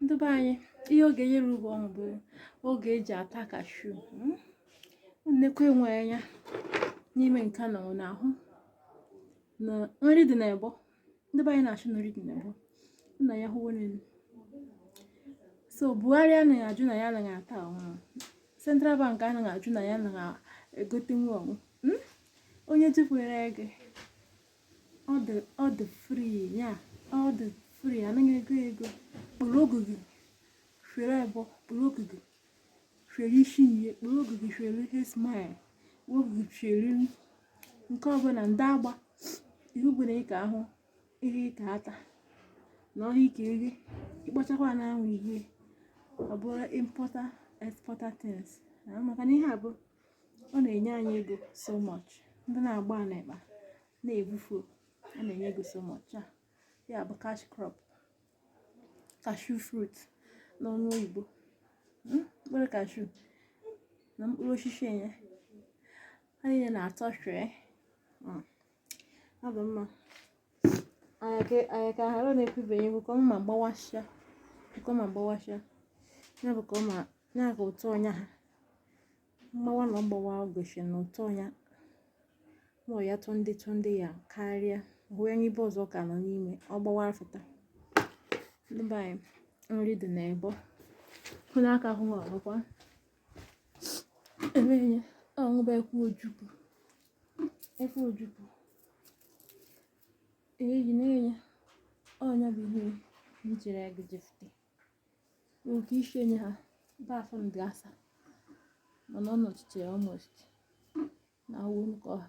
ndị be anyị ihe oge yere ugbo ọnwụ bụ oge eji ata kashu hmm? nnekwu enwe anya n'ime nke na ọ na-ahụ na nri dị n'ebo ndị be anyị na-achụ na nri dị n'ebo nna ya hụwo n'elu so buhari anaghị ajụ na ya anaghị ata ọhụrụ central bank anaghị ajụ na ya anaghị egote nwa ọnwụ hmm? onye jikwere ego ọ dị ọ dị free ya ọ dị free anaghị ego ego kpụrụ ogu gị fere ebo kpụrụ ogu gị fere isi ihe kpụrụ ogu gị fere ihe smile ogu gị fere nke ọbụla ndị agba ihe ọbụla ị ka ahụ ihe ị ka ata na ọhịa ị ka eri ịkpachakwa na anwụ ihe ọ bụrụ importer exporter things maka na ihe a bụ ọ na-enye anyị ego so much ndị na-agba a n'ekpa na-ebufu a na-enye ego so much ya bụ cash crop cashew fruit n'ọnụ oyibo Hmm? mkpụrụ cashew na mkpụrụ osisi enye ha niile na-atọ sweet ọ dị mma anyị ka ghara na-ekwubeghị egwu ka ọ ma gbawasịa ka ọ ma gbawasịa ya bụ ka ọ ma ya ka ụtọ ọnya ha mgbawa na ọgbawa gosi na ụtọ ọnya ma ya tụ ndị tụ ndị ya karịa hụ onye ibe ọzọ ka nọ n'ime ọ gbawa afụta ndị be anyị nri dị na ebo hụ n'aka hụ ọgwụkwa Emeghị ọṅụba ekwu ojukwu. Ekwu ojukwu. Eyi na-enye ọnya bụ ihe m jiri ego jefute. Oke isi enye ha ba afọ ndị asa mana ọ nọchitere almost na awụ nke ọha.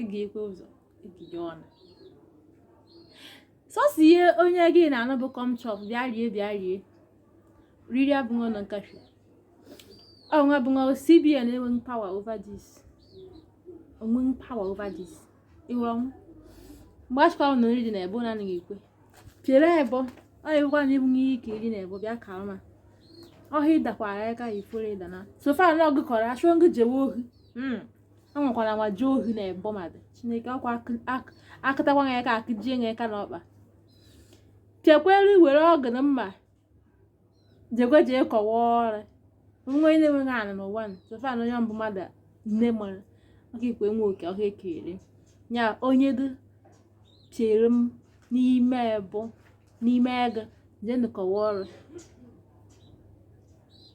ịga-ekwe ụzọ ịgịga ọnụ sọsọ ihe onye gị na-anụ bụ come chop bịa rie bịa rie riri abụghị ọnụ kashu ọnwa bụ nwa cbn enweghị power over this onweghị power over this ịghọrọ ọnwụ mgbe achịkwa ọnụ nri dị na ebo na-anaghị ekwe chere ebo ọ na-ekwekwa na ịbụ ihe ike iri na ebo bịa ka ọma ọhịa ịdakwara ya ka ifuru ịdana so far na ọgụ kọrọ achụọ ngụ jewe ohi enwekwana nwa jee ohi na ebo mmadụ chineke ọkwa akụtakwa ya ka akụjie ya aka n'ọkpa chekwere were ọgụ na mma jekwe jee kọwa ọrụ nwa onye na-enweghị ana n'ụwa so far na onye bụ mmadụ nne mụrụ ọka ikwe nwe oke ọhịa ekere ya onye dị chere m n'ime ebo n'ime egu jee nụkọwa ọrụ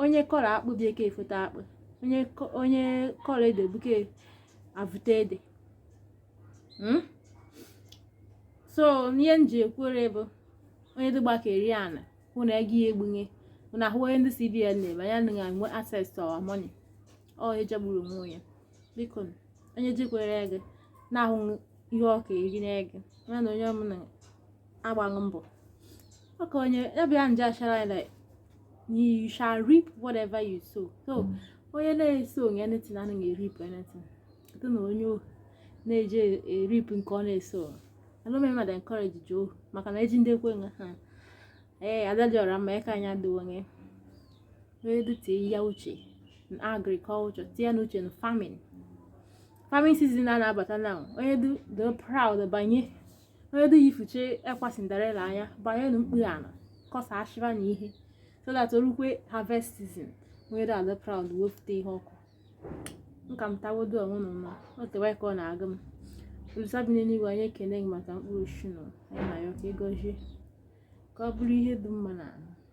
onye kọrọ akpụ bụ ya ka-efote akpụ onye kọrọ ede bụ ya ka-avụta ede hmm? so ihe m ji ekwere bụ onye dịgba ka eri ana hụ na ego ya egbunye hụ na ahụ ihe ndị cbn na-eme anyị ana enwe access to our money ọ ihe jọgburu onwe ya biko onye jikwere ego na-ahụ ihe ọ ka-eri na ego na onye ọmụna agbaghị mbọ ọka onye ya bụ ya ndị ọcha na-asị like you shall reap whatever you sow so onye na-esowghị anything anaghị ereap anything site na onye ohi na-eje ereap nke ọ na-esowghị alụmị mmadụ encourage ji ohi maka na eji ndị ekwe nga ha ee adadị ọra mma ya ka anyị adịwo onye wee tinye uche na agriculture tinye na uche na farming farming season a na-abata na onye dị proud banye onye dị yifuche ekwa Cinderella ya banye na mkpụrụ ana kọsa ashịba na ihe so that o rukwe harvest season onye dị adị proud wepụta ihe ọkụ nka m tawodo onwe m mma o tewe aka ọ na-agụ m olisa bi n'eluigwe anyị ekene gị maka mkpụrụ osisi nọ anyị na ya ka ị gọzie ka ọ bụrụ ihe dị mma na ahụ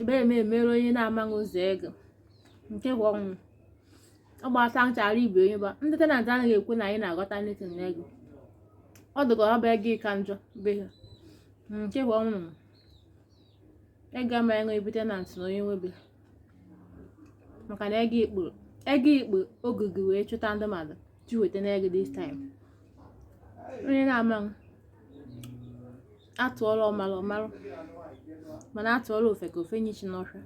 ebere m emere onye na-amaghị ụzọ ego nke bụ ọnwụ ọ gbata nchara ibe onye ba ndị tenant anaghị ekwe na anyị na-aghọta anything na ego ọ dịka ọ bụ ego ịka njọ be ha nke bụ ọnwụ ego ama enwe ebe tenant na onye nwebe maka na ego ikpu ego ikpu ogige wee chụta ndị mmadụ ji weta n'ego this time onye na-amaghị atụọla ọmara ọmara mana atụọla ofeke o fenye ishi n'ọhịa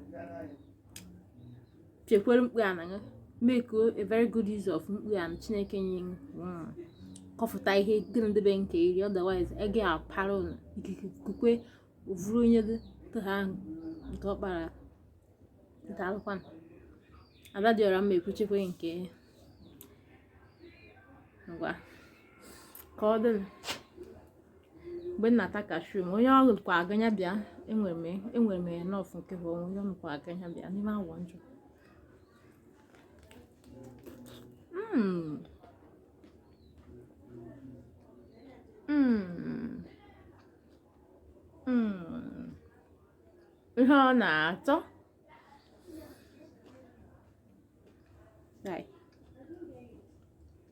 chekwere mkpu ana gị make a very good use of mkpu ana chineke nye gị hmm. kọfụta ihe gị na ndị be gị ka-eri otherwise ege apara unu ikike kukwe vụrụ onye gị tụha ahụ nke ọ kpara nke alụkwana ada dị ọra mma ekwuchekwe nke ngwa ka ọ dịnụ mgbe m na-ata kashu m onye ọrụ kwa aganya bịa enwere m enwere m enough nke bụ onwe onye ọrụ kwa aganya bịa n'ime awa njọ Mm. Mm. Mm. ihe ọ na-atọ Right.